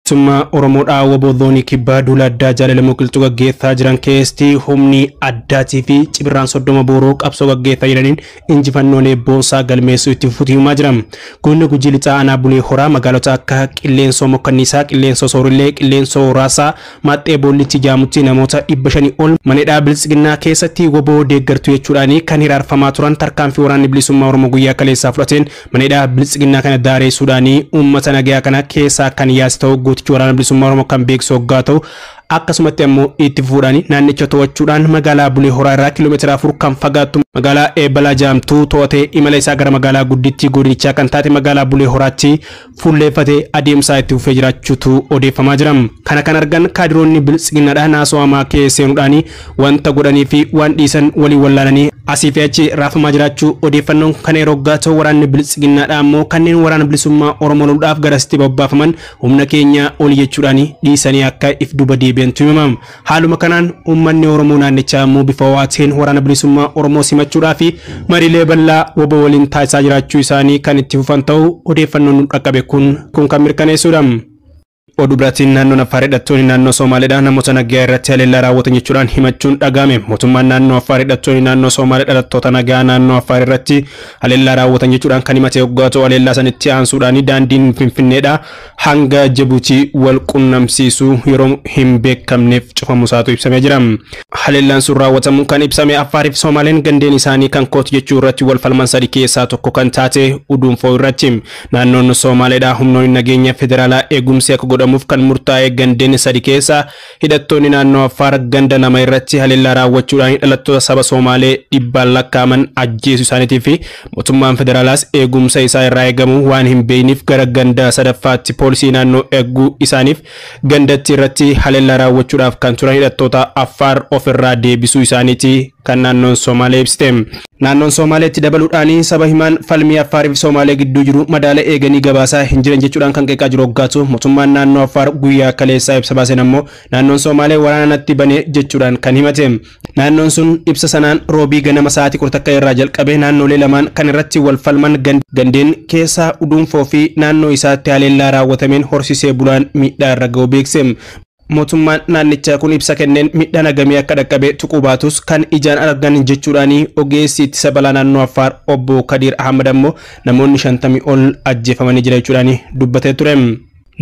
Summaa Oromoodhaa waboo zoonii kibbaa duula addaa jaalalamoo qilxuu gaggeessaa jiran keessatti humni addaatii fi cibirraan soddoma booroo qabsoo gaggeessaa jiraniin injifannoolee boonsaa galmeessuu itti fufuutu himamaa jira. Godina Gujii Lixaa Aanaa Bulee Horaa magaalota akka Qilleensoo Mokkanniisaa, Qilleensoo Soorillee, Qilleensoo Raasaa, Maaxxee Boollitti jaamutti namoota 500 ol mana hidhaa Biltsiginnaa keessatti wbo deeggartu jechuudhaan kan hiraarfamaa turan tarkaanfii waraanni bilisummaa Oromoo guyyaa kaleessaa fudhateen mana hidhaa Biltsiginnaa kana daareessuudhaan uummata nagayaa kana keessaa kan yaase ta'uu gootichi waraana bilisummaa Oromoo kan beeksisu hoggaa ta'u Akkasumatti ammoo itti fufuudhaan naannicha to'achuudhaan magaalaa Bulee Horaa irraa kiiloomeetira afur kan fagaattu magaalaa Eebbalaa jedhamtu to'atee imala isaa gara magaalaa guddittii godinichaa kan taate magaalaa Bulee Horaatti fuulleeffatee adeemsaa itti fufee jiraachuutu odeeffamaa jira. Kana kan argan kaadiroonni biltsiginnaadha naasoo hamaa kee seenuudhaan wanta godhanii fi waan dhiisan waliin wallaalanii asii fi achi raafamaa jiraachuu odeeffannoon kana yeroo gaato waraanni biltsiginnaadha ammoo kanneen waraana bilisummaa Oromoo loluudhaaf garasitti bobbaafaman Humna keenya oli jechuudhaan dhiisanii akka if duuba deebi'antu himama. Haaluma kanaan uummanni Oromoo naannichaa ammoo bifa ho'aa ta'een waraana bilisummaa Oromoo simachuudhaa fi mariilee bal'aa wabo waliin taasisaa jiraachuu isaanii kan itti fufan ta'uu odeeffannoon nu dhaqqabe kun kun kan mirkaneessuudha. Oduu biraatiin naannoon Affaar hidhattoonni naannoo Soomaaleedhaa namoota nagayaa irratti haleellaa raawwatan jechuudhaan himachuun dhaga'ame. Mootummaan naannoo Affaar hidhattoonni naannoo Soomaalee dhalattoota nagayaa naannoo Affaar irratti haleellaa raawwatan jechuudhaan kan himate yoggaa ta'u haleellaa sanitti aansuudhaan daandiin Finfinneedha hanga Jibuutii wal qunnamsiisu yeroo hin beekamneef cufamu isaatu ibsamee jira. Haleellaan sun raawwatamu kan ibsame Affaar fi Soomaaleen gandeen isaanii kan kooti jechuu irratti wal falman sadi keessaa tokko kan taate Uduunfoo irratti naannoon Soomaaleedha humnoonni nageenya federaalaa eegumsi akka godhamuuf kan murtaa'e gandeen sadi keessaa Hidhattoonni naannoo Affaar ganda lama irratti haleellaa raawwachuudhaan dhalattoota saba Soomaalee dhibbaan lakkaa'aman ajjeesuu isaaniitii fi mootummaan federaalaas eegumsa isaa irraa eegamu waan hin beekniif gara ganda sadaffaatti poolisii naannoo eeguu isaaniif gandatti irratti haleellaa raawwachuudhaaf kan turan hidhattoota Affaar of irraa deebisuu isaaniitii kan naannoon Soomaalee ibsite. Naannoon Soomaalee itti dabaluudhaan saba himaan falmii Affaar fi Soomaalee gidduu jiru madaala eeganii gabaasaa hin jiran jechuudhaan kan qeeqaa jiru oggaa ta'u, mootummaan naannoo Affaar guyyaa kaleessaa ibsa baaseen ammoo naannoon Soomaalee waraana natti bane jechuudhaan kan himate. Naannoon sun ibsa sanaan Roobii ganama sa'aatii 11 irraa jalqabee naannoolee lamaan kan irratti wal falman gandeen keessaa Uduunfoo fi naannoo isaatti haleellaa raawwatameen horsiisee bulaan miidhaa irra ga'uu beeksise. Mootummaan naannichaa kun ibsa kenneen miidhaan hagamii akka dhaqqabe tuquu baatus kan ijaan argan jechuudhaani ogeessi ittisa balaa naannoo Affaar obbo Kadiir Ahmad ammoo namoonni 50 ol ajjeefamanii jira jechuudhaani dubbatee ture.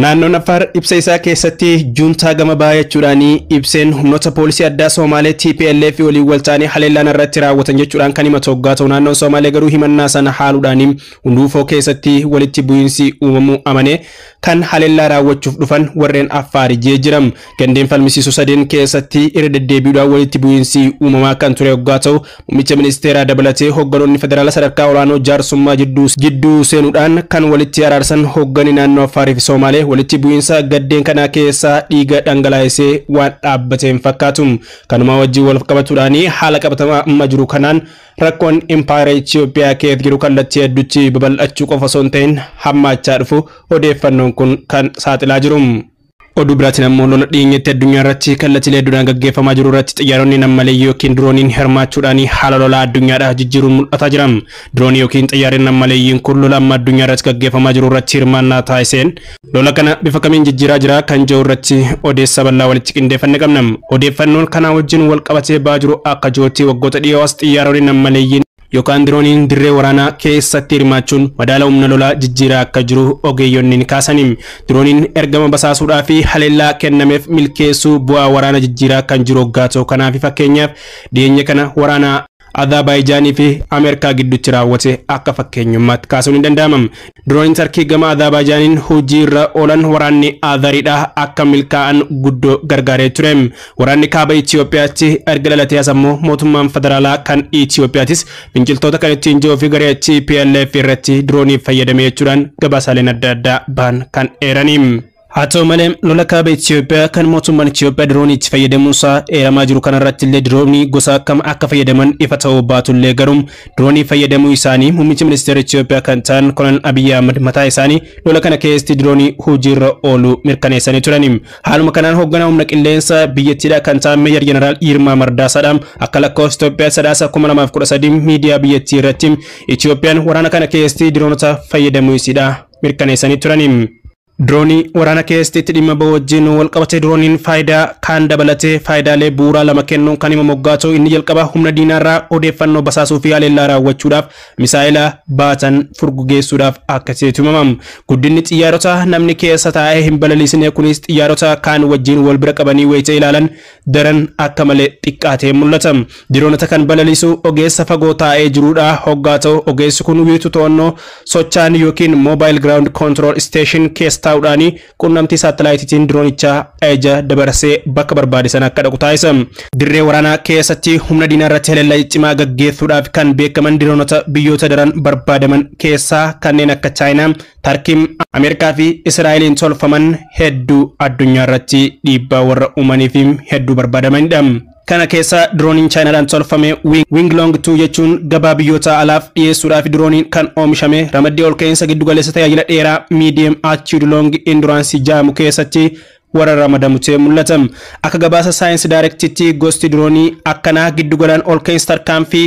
Naannoon Affaar ibsa isaa keessatti juuntaa gama bahaa jechuudhaani ibseen humnoota poolisii addaa Soomaalee TPLF waliin wal ta'anii haleellaan irratti raawwatan jechuudhaan kan himatu hoggaa ta'u naannoon Soomaalee garuu himannaa sana haaluudhaani Hunduufoo keessatti walitti bu'iinsi uumamuu amanee kan haleellaa raawwachuuf dhufan warreen Affaari jee jira. Gandeen falmisiisoo sadeen keessatti irra deddeebiidhaan walitti bu'iinsi uumamaa kan ture oggaa ta'u, muummicha ministeeraa dabalatee hogganoonni federaala sadarkaa olaanoo jaarsummaa jidduu jidduu seenuudhaan kan walitti araarsan hogganni naannoo Affaarii fi Soomaalee walitti bu'iinsa gaddeen kanaa keessaa dhiiga dhangalaa'isee waan dhaabbate hin fakkaatu. Kanumaa wajjin walqabatuudhaani haala qabatamaa amma jiru kanaan Rakkoon impaayera Itiyoophiyaa keessa jiru kallattii hedduutti babal'achuu qofa osoo hin ta'in hammaachaa dhufu odeeffannoon kun kan saaxilaa jiru. Oduu biraatiin ammoo lola dhiyeenyatti addunyaa irratti kallattiilee hedduudhaan gaggeeffamaa jiru irratti xiyyaaronni nam-maleeyyii ykn dirooniin hirmaachuudhaan haala lolaa addunyaadhaa jijjiiruun mul'ataa jira. Diroonii ykn xiyyaarri nam-maleeyyiin kun lola amma addunyaa irratti gaggeeffamaa jiru irratti hirmaannaa taasiseen, Lola kana bifa kamiin jijjiiraa jira kan jiru irratti odeessa bal'aa walitti qindeeffanne qabna. Odeeffannoon kanaa wajjin wal qabatee ba'aa jiru akka jirutti waggoota dhiyoo as xiyyaaronni nammaleeyyiin yookaan dirooniin dirree waraanaa keessatti hirmaachuun madaala humna lolaa jijjiiraa akka jiru ogeeyyonni ni kaasani. Dirooniin ergama basaasuudhaa fi haleellaa kennameef milkeessuu bu'aa waraana jijjiiraa kan jiru hoggaa ta'u kanaafi fakkeenyaaf dhiyeenya kana waraana Azaabaayijaanii fi Ameerikaa gidduutti raawwate akka fakkeenyummaatti kaasuun ni danda'ama. Dirooniin Tarkii gama Azaabaayijaaniin hojii irra oolan waraanni Azaridha akka milkaa'an guddoo gargaaree ture. Waraanni kaaba Itiyoophiyaatti erga dhalatee as ammoo mootummaan federaalaa kan Itiyoophiyaatis finciltoota kan ittiin ji'oo fi garee TPLF irratti diroonii fayyadame jechuudhaan gabaasaaleen adda addaa bahan kan eerani. Haa ta'u malee, lola kaaba Itoophiyaa kan mootummaan Itoophiyaa diroonii itti fayyadamuunsaa eeramaa jiru kanarrattillee diroonii gosa akkam akka fayyadaman ifa ta'uu baatullee garuu diroonii fayyadamuu isaanii muummichi ministeera Itoophiyaa kan ta'an Kolonel Abiyyi Ahmad mataa isaanii lola kana keessatti diroonii hojiirra ooluu mirkaneessanii turani. Haaluma kanaan hoogganaa humna qilleensaa biyyattiidhaa kan ta'an Meejar Jeneraal Yirmaa Mardaasaadha akka lakkoofsa Itoophiyaa sadaasa 2013 miidiyaa biyyattii irratti Itoophiyaan waraana kana keessatti diroonota fayyadamuu isiidha mirkaneessanii turani. Diroonii waraana keessatti itti dhimma bahu wajjin walqabatee dirooniin faayidaa kaan dabalatee faayidaalee bu'uuraa lama kennuun kan hima moggaatu inni jalqabaa humna diinaarraa odeeffannoo basaasuu fi haleellaa raawwachuudhaaf misaa'ela baatan furgugeessuudhaaf akka ta'etu himama. Guddinni xiyyaarota namni keessa taa'ee hin balaliisine kunis xiyyaarota kaan wajjin wal bira qabanii wayita ilaalan daran akka malee xiqqaatee mul'ata. Diroonota kan balaliisu ogeessa fagoo taa'ee jiruudha hoggaa ta'u ogeessi kun wiirtuu to'annoo sochaan yookiin Mobile Ground Control Station keessa taa'uudhaan qunnamtii saattalaayitiitiin diroonichaa ajaja dabarsee bakka barbaade sana akka dhaqu taasisa. Dirree waraanaa keessatti humna diinaa irratti haleellaa cimaa gaggeessuudhaaf kan beekaman diroonota biyyoota daran barbaadaman keessaa kanneen akka Chaayinaa, Tarkiin Ameerikaa fi Israa'eliin tolfaman hedduu addunyaa irratti dhiibbaa warra uumanii fi hedduu barbaadamanidha. Kana keessa dirooniin Chaayinaadhaan tolfame Winglong 2 jechuun gabaa biyyoota alaaf dhiyeessuudhaaf dirooniin kan oomishame ramaddii ol ka'iinsa giddugaleessa tajaajila dheeraa Medium Attitude Long Endurance jaamu keessatti warra ramadamu ta'ee mul'ata. Akka gabaasa Science Direct'tti gosti diroonii akkanaa giddugalaan ol ka'iinsa tarkaanfii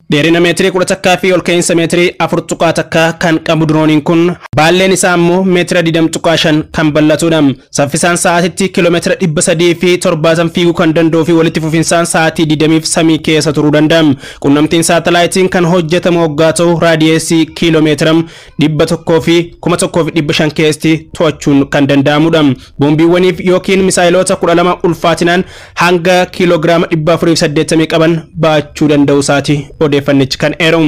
Dheerina meetirii kudha takkaa fi ol ka'iinsa meetirii afur tuqaa takka kan qabu dirooniin kun baalleen isaa ammoo meetira digdama tuqaa shan kan bal'atudha. Saffisaan sa'aatitti kiiloomeetira dhibba sadii fi torbaatama fiiguu kan danda'uu fi walitti fufinsaan sa'aatii digdamiif samii keessa turuu danda'a. Qunnamtiin saatalaayitiin kan hojjetamu oggaa ta'u raadiyeesii kiiloomeetira dhibba tokkoo fi kuma tokkoo fi dhibba shan keessatti to'achuun kan danda'amudha. Boombiiwwaniif yookiin misaayiloota kudha lama ulfaatinaan hanga kiiloogiraama dhibba afurii fi saddeettamii qaban baachuu danda'u isaati odeeffannichi kan eeru.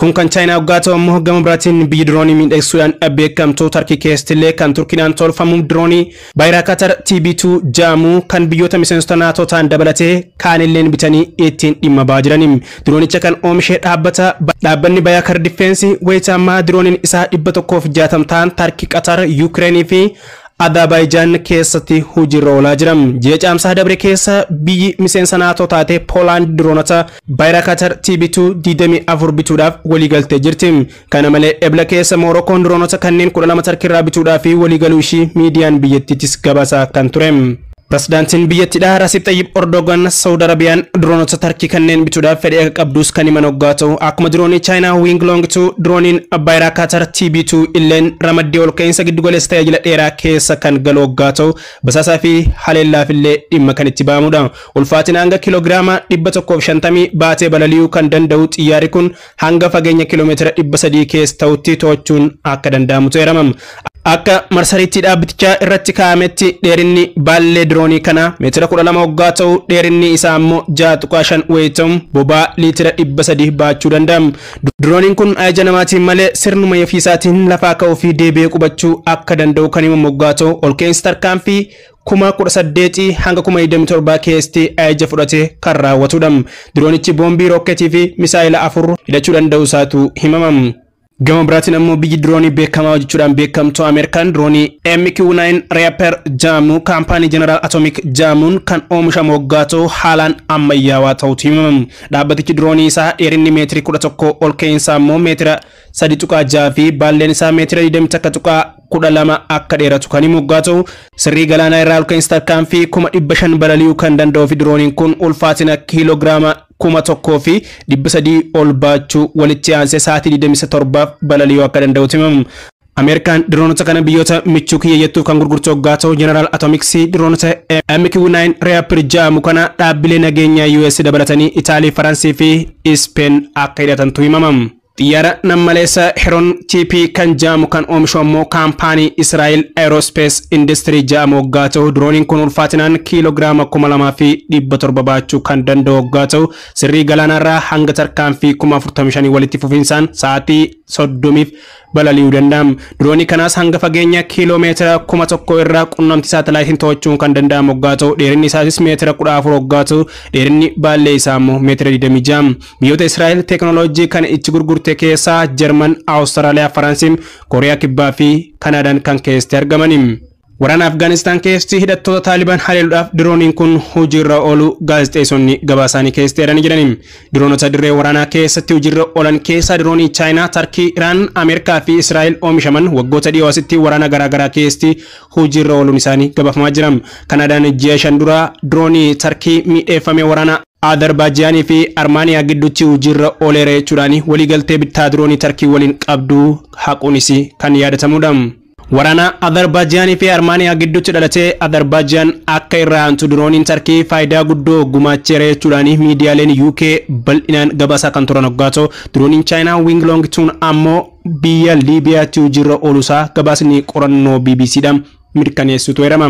Kun kan Chaayinaa waggaa ta'u immoo gama biraatiin biyyi diroonii miidhagsuudhaan beekamtu Tarkii keessatti illee kan Turkiidhaan tolfamu diroonii Baayiraakatar TB2 ja'amu kan biyyoota miseensota NATO ta'an dabalatee kaanilleen bitanii ittiin dhimma ba'aa jirani. Diroonicha kan oomishe dhaabbata Dhaabbanni Bayaakar Diffeensi wayita ammaa dirooniin isaa 160 ta'an Tarki, Qatar, Yuukireenii fi Adaabaayijaan keessatti hojiirra oolaa jira. Ji'a Caamsaa dabre keessa biyyi miseensa NATO taate Poolaand diroonota Baayiraakatar TB2 24 bituudhaaf waliigaltee jirti. Kana malee Ebla keessa Moorokoon diroonota kanneen 12 Tarkiirraa bituudhaaf waliigaluu ishii miidiyaan biyyattiitis gabaasaa kan ture. Pirezidaantiin biyyattiidhaa Rasiib Xayyib Ordoogan Sawud Arabiyaan diroonota Tarkii kanneen bituudhaaf fedhii akka qabduus kan himan oggaa ta'u, akkuma diroonii Chaayinaa Wing Long 2, dirooniin abbaa irhaa Kaatar TB2 illeen ramaddii olka'iinsa giddugaleessa tajaajila dheeraa keessa kan galu oggaa ta'u, basaasaa fi haleellaaf illee dhimma kan itti ba'amudha. Ulfaatina hanga kiloogiraama 150 baatee balali'uu kan danda'u xiyyaarri kun hanga fageenya kiiloomeetira 300 keessa ta'utti to'achuun akka danda'amutu eeramam. Akka marsariitii dhaabbitichaa irratti kaa'ametti dheerinni baallee diroonii kanaa meetira 12 hoggaa ta'u dheerinni isaa ammoo 6.5 wayii ta'u bobaa liitira 300 baachuu danda'a. Dirooniin kun ajaja namaatiin malee sirnuma yofiisaatiin lafaa ka'uu fi deebi'ee qubachuu akka danda'u kan himamu hoggaa ta'u olka'insi tarkaanfii kuma 18 hanga kuma 27 keessatti ajaja fudhate kan raawwatudha. Diroonichi boombii rookketii fi misaa'ila afur hidhachuu danda'u isaatu himama. Gama biraatiin ammoo biyyi diroonii beekamaa hojjechuudhaan beekamtu Ameerikaan diroonii MQ-9 Reaper jedhamu kaampaanii General Atomic jedhamuun kan oomishamu waggaa ta'u haalaan ammayyaawaa ta'utu himama. Dhaabbatichi diroonii isaa dheerinni meetirii 11 ol ka'iinsaa immoo meetira 3.6 fi baalleen isaa meetira 21.12 akka dheeratu kan himu yoggaa ta'u, sirrii galaanaa irraa olka'iinsa tarkaanfii 500,000 balali'uu kan danda'uu fi dirooniin kun ulfaatina kiiloogiraama 1,300 ol baachuu walitti aansee sa'aatii 27f balali'uu akka danda'utu himama. Ameerikaan diroonota kana biyyoota michuu kiyya jettuuf kan gurgurtu yoggaa ta'u, Jeneraal Atomiksii diroonota MQ-9 Reaptor jedhamu kana dhaabbilee nageenyaa US dabalatanii Itaalii, Faransii fi Ispeen akka hidhatantu himama. Xiyyaara nammaleessa Heron TP kan ja'amu kan oomishu ammoo kaampaanii Israa'el Aerospace Industry ja'amu hoggaa ta'u dirooniin kun ulfaatinaan kiiloogiraama 2700 baachuu kan danda'u hoggaa ta'u sirrii galaanaarraa hanga tarkaanfii 45,000 walitti fufinsaan sa'aatii 30f balali'uu danda'a. Diroonii kanaas hanga fageenya kiiloo meetira 1000 irraa qunnamtii saatalaayitiin to'achuun kan danda'amu hoggaa ta'u dheerinni isaatis meetira 14 hoggaa ta'u dheerinni baallee isaa ammoo meetira 26. Biyyoota Israa'el teeknooloojii kana itti gurgurte keessaa Jarman, Awustiraaliyaa, Faransi, Kooriyaa Kibbaa fi Kanaadaan kan keessatti argamani. Waraana Afgaanistaan keessatti hidhattoota Taaliban haleeluudhaaf dirooniin kun hojiirra ooluu gaazexeessonni gabaasaanii keessatti eeranii jirani. Diroonota dirree waraanaa keessatti hojiirra oolan keessaa diroonii Chaayinaa, Tarkii, Iraan, Ameerikaa fi Israa'el oomishaman waggoota dhiyoo asitti waraana garaagaraa keessatti hojiirra ooluun isaanii gabaafamaa jira. Kanaadaan ji'a shan dura diroonii Tarkii miidheeffame waraana Adarbaajiyaan fi Armaaniyaa gidduutti hojiirra ooleera jechuudhaan waliigaltee bittaa diroonii Tarkii waliin qabdu haquunis kan yaadatamuudha. Waraana Adarbaajiyaan fi Armaaniyaa gidduutti dhalate Adarbaajiyaan akka irraa aantu dirooniin Tarkii faayidaa guddoo gumaacheera jechuudhaan miidiyaaleen UK bal'inaan gabaasaa kan turan hoggaa ta'u, dirooniin Chaayinaa Wing Long Tun ammoo biyya Liibiyaatti hojiirra ooluusaa gabaasni qorannoo BBCdha. mirkaneessutu eerama.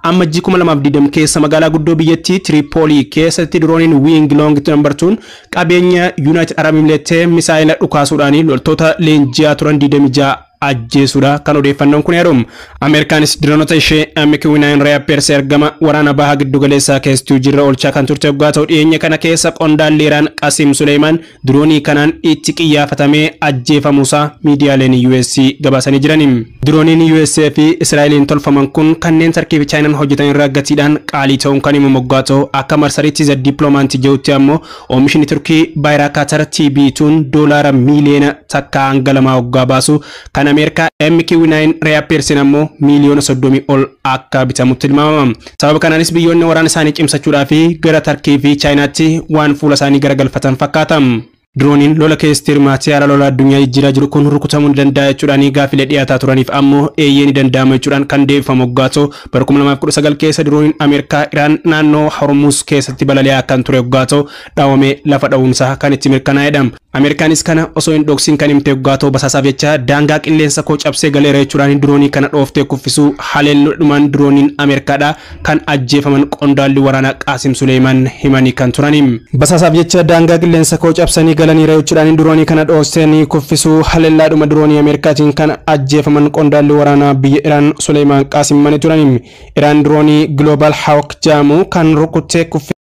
Ammajjii 2020 keessa magaalaa guddoo biyyattii Tiriipoolii keessatti dirooniin Wiing Loong Nambar 2 qabeenya Yuunaayitid Arab Imileettee misaa'ela dhukaasuudhaan loltoota leenji'aa turan 26 ajjeesuudha kan odeeffannoon kun eeru. Ameerikaanis diroonota ishee MQ-9 Reapers ergama waraana baha giddugaleessaa keessatti hojiirra oolchaa kan turte yoggaa ta'u dhiyeenya kana keessa qondaalli Iraan Qasiim Suleeyimaan diroonii kanaan itti qiyyaafatamee ajjeefamuusaa miidiyaaleen US gabaasanii jirani. Dirooniin US fi Israa'eliin tolfaman kun kanneen Tarkii fi Chaayinaan hojjetan irra gatiidhaan qaalii ta'uun kan himamu oggaa ta'u, akka marsariitii The Diplomat jedhutti ammoo oomishni Turkii Baayiraakaatar TB2'n doolaara miiliyoona takkaa hanga lamaa oggaa baasu, kan Ameerikaa MQ-9 Reaper'sin ammoo miiliyoona soddomii ol akka bitamu tilmaamama. Sababa kanaanis biyyoonni waraana isaanii cimsachuudhaaf gara Tarkii fi Chaayinaatti waan fuula isaanii garagalfatan fakkaata. Dirooniin lola keessatti hirmaate haala lola addunyaa jijjiiraa jiru kun rukutamuu ni danda'a jechuudhaan gaaffilee dhiyaataa turaniif ammoo eeyyee ni danda'ama jechuudhaan kan deebifamu oggaa ta'u, bara 2019 keessa dirooniin Ameerikaa Iraan naannoo Hormuuz keessatti balali'aa kan ture oggaa ta'u, dhawamee lafa dhawuun isaa kan itti mirkanaa'edha. Ameerikaanis kana osoo hin dhoksin kan himte yoggaa ta'u basaasaaf jecha daangaa qilleensa koo cabsee galeera jechuudhaan diroonii kana dhooftee kuffisuu haleelloo dhumaan dirooniin Ameerikaadhaa kan ajjeefaman qondaalli waraanaa Qaasim Suleeyimaan himanii kan turani. Basaasaaf jecha daangaa qilleensa koo cabsanii galaniira jechuudhaan diroonii kana dhoostee ni kuffisuu haleellaadhuma diroonii Ameerikaatiin kan ajjeefaman qondaalli waraanaa biyya Iraan Suleeyimaan Qaasim himanii turani. Iraan diroonii Global Hawk jedhamu kan rukuttee kuffisuu